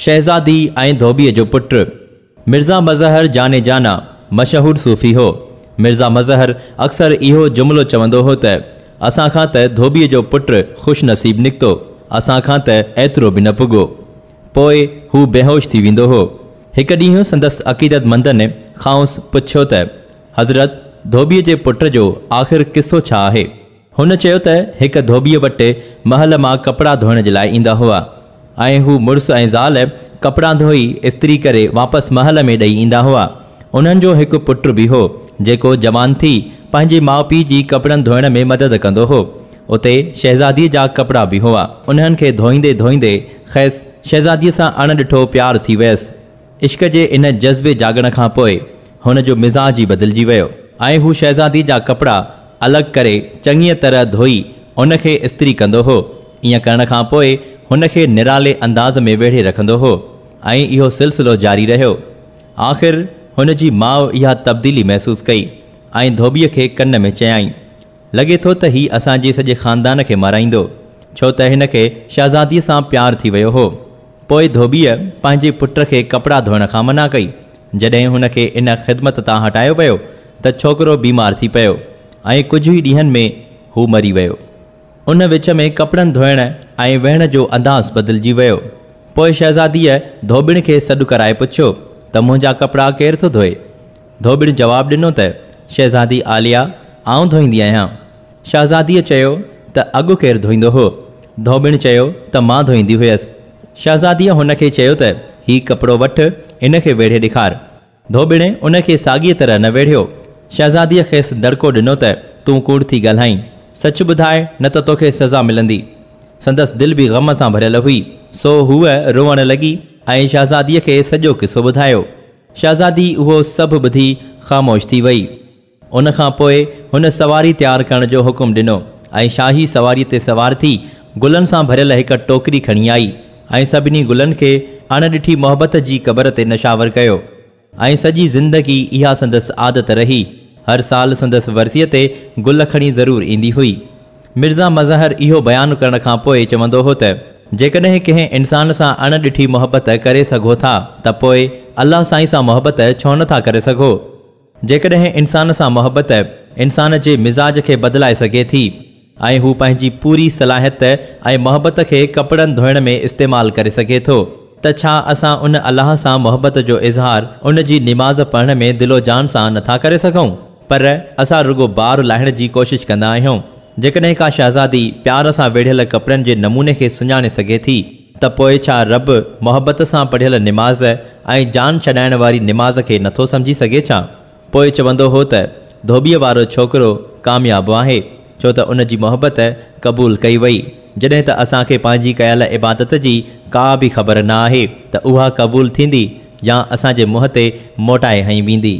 شهزادي ۽ ڌوٻيء جو پٽ مرزا مظهر جان جانا مشهور صوفي هو. مرزا مظهر اڪثر اهو جملو چوندو هو ته، اسان کان ته ڌوٻيء جو پٽ خوش نصيب نڪتو، اسان کان ته ايترو به نه پڳو. پوء هو بيهوش ٿي ويندو هو. هڪ ڏينهن سندس عقيدتمندن کانئس پڇيو ته، حضرت! ڌوٻيء جي پٽ جو آخر قصو ڇا آهي؟ هن چيو ته هڪ ڌوٻيء وٽ محل مان ڪپڙا ڌوئڻ جي لاء ايندا هئا ۽ هو مڙس ۽ زال ڪپڙا ڌوئي استري ڪري واپس محل ۾ ڏئي ايندا هئا. انهن جو هڪ پٽ به هو، جيڪو جوان ٿي پنهنجي ماء پيء جي ڪپڙن ڌوئڻ ۾ مدد ڪندو هو. اتي شهزاديء جا ڪپڙا به هئا. انهن کي ڌوئيندي ڌوئيندي کيس شهزاديء سان اڻ ڏٺو پيار ٿي ويس. عشق جي ان جذبي جاڳڻ کان پوء هن جو مزاج ئي بدلجي ويو ۽ هو شهزادي جا ڪپڙا الڳ ڪري چڱيء طرح ڌوئي ان کي استري ڪندو هو. ائين ڪرڻ کان پوء هن کي نرالي انداز ۾ ويڙهي رکندو هو ۽ اهو سلسلو جاري رهيو. آخر هن جي ماء اها تبديلي محسوس ڪئي ۽ ڌوٻيء کي ڪن ۾ چيائين لڳي ٿو ته هي اسان جي سڄي خاندان کي مارائيندو، ڇو ته هن کي شهزاديء سان پيار ٿي ويو هو. پوء ڌوٻيء پنهنجي پٽ کي ڪپڙا ڌوئڻ کان منع ڪئي. جڏهن هن کي ان خدمت تان هٽايو ويو ته ڇوڪرو بيمار ٿي پيو ۽ ڪجهه ئي ڏينهن ۾ هو مري ويو. ان وچ ۾ ڪپڙن ڌوئڻ ۽ ويهڻ جو انداز بدلجي ويو. پوء شهزاديء ڌوٻڻ کي سڏ ڪرائي پڇيو ته منهنجا ڪپڙا ڪير ٿو ڌوئي؟ ڌوٻڻ جواب ڏنو ته، شهزادي عاليه، آئون ڌوئيندي آهيان. شهزاديء چيو ته، اڳ ڪير ڌوئيندو هو؟ ڌوٻڻ چيو ته، مان ڌوئيندي هيس. شهزاديء هن کي چيو ته، هي ڪپڙو وٺ، ان کي ويڙهي ڏيکار. ڌوٻڻ ان کي ساڳيء طرح نه ويڙهيو. شهزاديء کيس دڙڪو ڏنو ته، تون ڪوڙ ٿي ڳالهائين. سچ ٻڌاء، نه ته توکي سزا ملندي. سندس دل به غم سان ڀريل هئي، سو هوء روئڻ لڳي ۽ شهزاديء کي سڄو قصو ٻڌايو. شهزادي اهو سڀ ٻڌي خاموش ٿي وئي. ان کان پوء هن سواري تيار ڪرڻ جو حڪم ڏنو ۽ شاهي سواريء تي سوار ٿي گلن سان ڀريل هڪ ٽوڪري کڻي آئي ۽ سڀني گلن کي اڻ ڏٺي محبت جي قبر تي نشاور ڪيو ۽ سڄي زندگي اها سندس عادت رهي هر سال سندس ورسيء تي گل کڻي ضرور ايندي هئي. مرزا مظهر اهو بيان ڪرڻ کان پوء چوندو هو ته، جيڪڏهن ڪنهن انسان سان اڻ ڏٺي محبت ڪري سگهو ٿا ته پوء الله سائين سان محبت ڇو نه ٿا ڪري سگهو؟ جيڪڏهن انسان سان محبت انسان جي مزاج کي بدلائي سگهي ٿي ۽ هو پنهنجي پوري صلاحيت ۽ محبت کي ڪپڙن ڌوئڻ ۾ استعمال ڪري سگهي ٿو ته ڇا اسان ان الله سان محبت جو اظهار ان جي نماز پڙهڻ ۾ دل و جان سان نه ٿا ڪري سگهون؟ پر اسان رڳو بار لاهڻ جي ڪوشش ڪندا آهيون. جيڪڏهن ڪا شهزادي پيار سان ويڙهيل ڪپڙن جي نموني کي سڃاڻي سگهي ٿي ته پوء ڇا رب محبت سان پڙهيل نماز ۽ جان ڇڏائڻ واري نماز کي نٿو سمجهي سگهي ڇا؟ پوء چوندو هو ته ڌوٻيء وارو ڇوڪرو ڪامياب آهي ڇو ته ان جي محبت قبول ڪئي وئي جڏهن ته اسان کي پنهنجي ڪيل عبادت جي ڪا به خبر نه آهي ته اها قبول ٿيندي يا اسان جي منهن تي موٽائي هنئي ويندي.